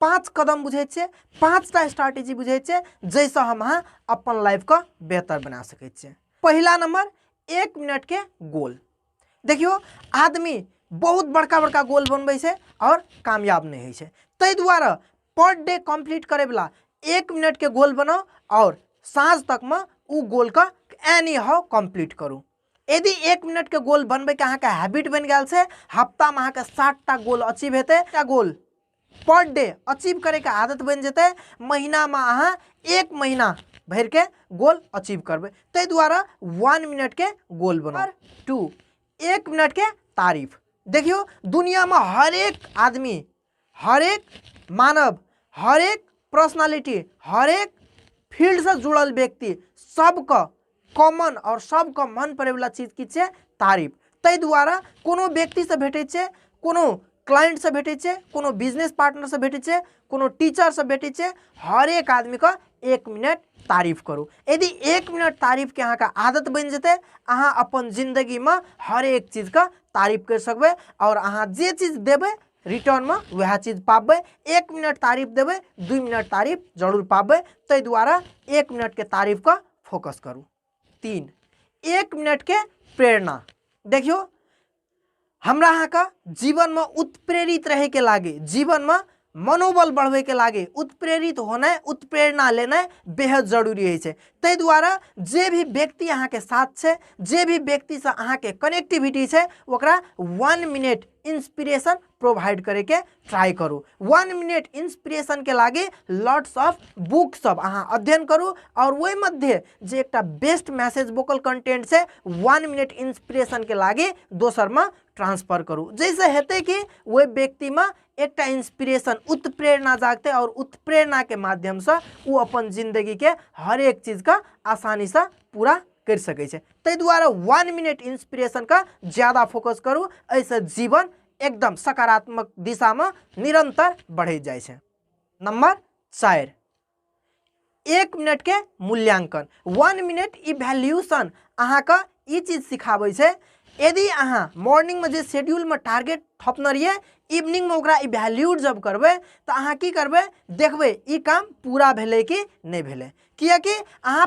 पाँच कदम बुझे छे पाँचटा स्ट्रैटेजी बुझे छे जैसे हम अहाँ अपन लाइफ का बेहतर बना सके छे पहला नंबर एक मिनट के गोल देखियो आदमी बहुत बड़का बड़का गोल बनबे से और कामयाब नहीं है तै द्वारा पर डे कंप्लीट करे वाला एक मिनट के गोल बनाओ और साँझ तक में उ गोल का एनी हाउ कंप्लीट करूँ यदि एक मिनट के गोल बनबे के अहाँ के हैबिट बन गया से हफ्ता में अहाँ के सात टा गोल अचीव हेतु गोल पर डे अचीव करैके आदत बनि जेतै महीनामे अहाँ एक महीना भरिके गोल अचीव करबै ताहि दुआरे वन मिनटके गोल बनाउ टू एक मिनटके तारीफ देखियौ दुनियामे हरेक आदमी हरेक मानव हरेक पर्सनालिटी हरेक फील्डसँ जुड़ल व्यक्ति सबके कॉमन आओर सबके मन पड़ैवला चीज की छै तारीफ ताहि दुआरे कोनो व्यक्तिसँ भेटै छै कोनो क्लाइंटसँ भेटै छै कोनो बिजनेस पार्टनरसँ भेटै छै कोनो टीचरसँ भेटै छै हरेक आदमीके एक मिनट तारीफ करू यदि एक मिनट तारीफके अहाँके आदत बनि जेतै अहाँ अपन जिन्दगीमे हरेक चीजके तारीफ करि सकबै आओर अहाँ जे चीज देबै रिटर्नमे वएह चीज पाबै एक मिनट तारीफ देबै दुइ मिनट तारीफ जरूर पाबै ताहि दुआरे एक मिनटके तारीफके फोकस करू तीन एक मिनटके प्रेरणा देखियौ हमरा अहाँके जीवनमे उत्प्रेरित रहैके लागे जीवनमे मनोबल बढ़बैके लागे उत्प्रेरित होनाइ उत्प्रेरणा लेनाइ बेहद जरूरी होइ छै ताहि दुआरे जे भी व्यक्ति अहाँके साथ छै जे भी व्यक्तिसँ अहाँके कनेक्टिविटी छै ओकरा वन मिनट इंस्पिरेशन प्रोवाइड करे के ट्राई करू वन मिनट इंस्पिरेशन के लागे लॉट्स ऑफ बुक सब अहाँ अध्ययन करू और वही मध्य जे एक बेस्ट मैसेज वोकल कंटेंट से वन मिनट इंस्पिरेशन के लागे दोसर में ट्रांसफर करू जैसे हेते कि वही व्यक्ति में एक इंस्पिरेशन उत्प्रेरणा जागते और उत्प्रेरणा के माध्यम से वो अपन जिंदगी के हर एक चीज का आसानी से पूरा करि सकै छै ताहि दुआरे वन मिनट इंस्पिरेशनके ज्यादा फोकस करू एहिसँ जीवन एकदम सकारात्मक दिशामे निरन्तर बढ़ैत जाइ छै नम्बर चारि एक मिनटके मूल्यांकन वन मिनट इवैल्यूशन अहाँके ई चीज सिखाबै छै यदि अहाँ मॉर्निंगमे जे शेड्यूलमे टारगेट थपने रहिए इवनिंगमे ओकरा इवैल्यूट जब करबै तऽ अहाँ की करबै देखबै ई काम पूरा भेलै कि नहि भेलै किएकि अहाँ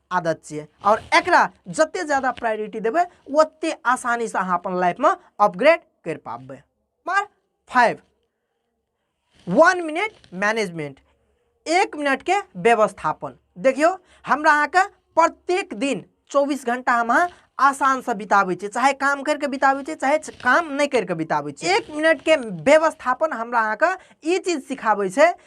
आदत छियै आओर एकरा जतेक जादा प्रायोरिटी देबै ओतेक आसानीसँ अहाँ अपन लाइफमे अपग्रेड करि पाबबै number five one minute management एक मिनटके व्यवस्थापन देखियौ हमरा अहाँके प्रत्येक दिन चौबीस घंटा हम अहाँ आसानसँ बिताबै छियै चाहे काम करिके बिताबै छियै चाहे काम नहि करिके बिताबै छियै एक मिनटके व्यवस्थापन हमरा अहाँके ई चीज सिखाबै छै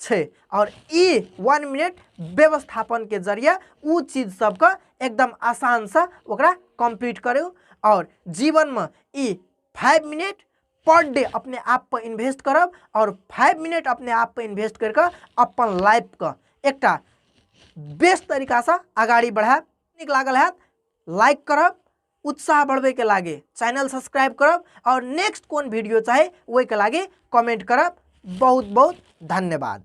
छै और ई वन मिनट व्यवस्थापन के जरिए उ चीज सबके एकदम आसान से ओकरा कंप्लीट करू और जीवन में ई फाइव मिनट पर डे अपने आप पर इन्वेस्ट करब और फाइव मिनट अपने आप पर इन्वेस्ट करके अपन लाइफ के एक बेस्ट तरीका से आगाड़ी बढ़ाएब नीक लागल है लाइक करब उत्साह बढ़बैके लागि च्यानल सब्सक्राइब करब आओर नेक्स्ट कोन भिडियो चाही ओहिके लागि कमेन्ट करब बहुत बहुत धन्यवाद